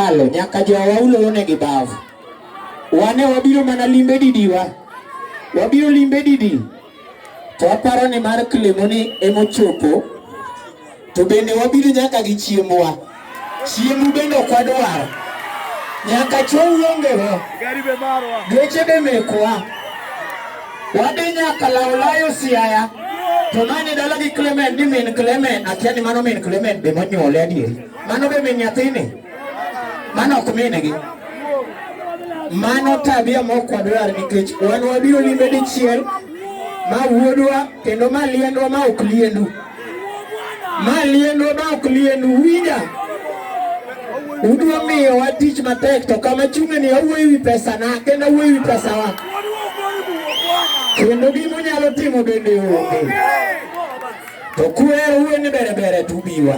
malo nyaka jowa ulorone gi bavu. Wane wabiro mana limbe didiwa, wabiro limbe didi to aparo ni mar kilemoni emochopo, to bende wabiro nyaka gi chiembwa. Chiembu bende ok wadwar, nyaka chou ongewa, geche be mekwa, wadhi nyaka lawlayo siaya to mani dala gi Clement ni min Clement, akia ni mano min Clement be monyuole adieri. Mano be min nyathini? Mano ok minegi. Mano tabia mok wadwar nikech wan wabiro limbe dichiel ma wuodwa kendo ma liendwa ma ok liendu. Ma liendwa ma ok liendu winja. Udwa miyowa tich matek to kama chunge ni awuoyo wi pesa na kendo awuoyo wi pesa wa. Kendo gima unyalo timo bende onge. To kuhero wuoyo ni bere bere to ubiwa.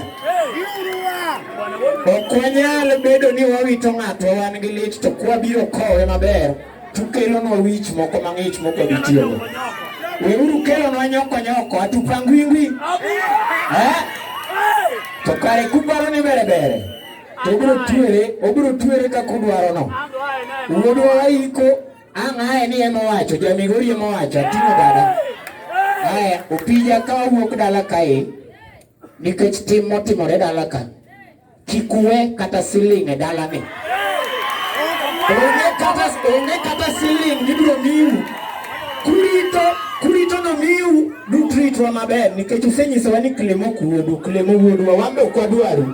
Ok wanyal bedo ni wawito ng'ato wan gi lit to kwabiro kowe maber to ukelonwa wich moko mang'ich mok wabi tiyogo. Weuru kelonwa nyoko nyoko atupangwingwi. Eh? To kare kuparo ni bere bere to obiro twere, obiro twere kaka udwarono. Wuodwa waiko Ang' aye ni ema owacho, ja Migori ema owacho, ating'o dada. Aya, opija ka owuok dala kae nikech tim motimore dala ka. Kik uwe kata siling' e dalani. Onge kata onge kata siling' mibiro miu. Kurito kurito nomiu dutritwa maber nikech usenyisowa ni klemo kuodu, klemo wuodwa, wan be ok wadwaru.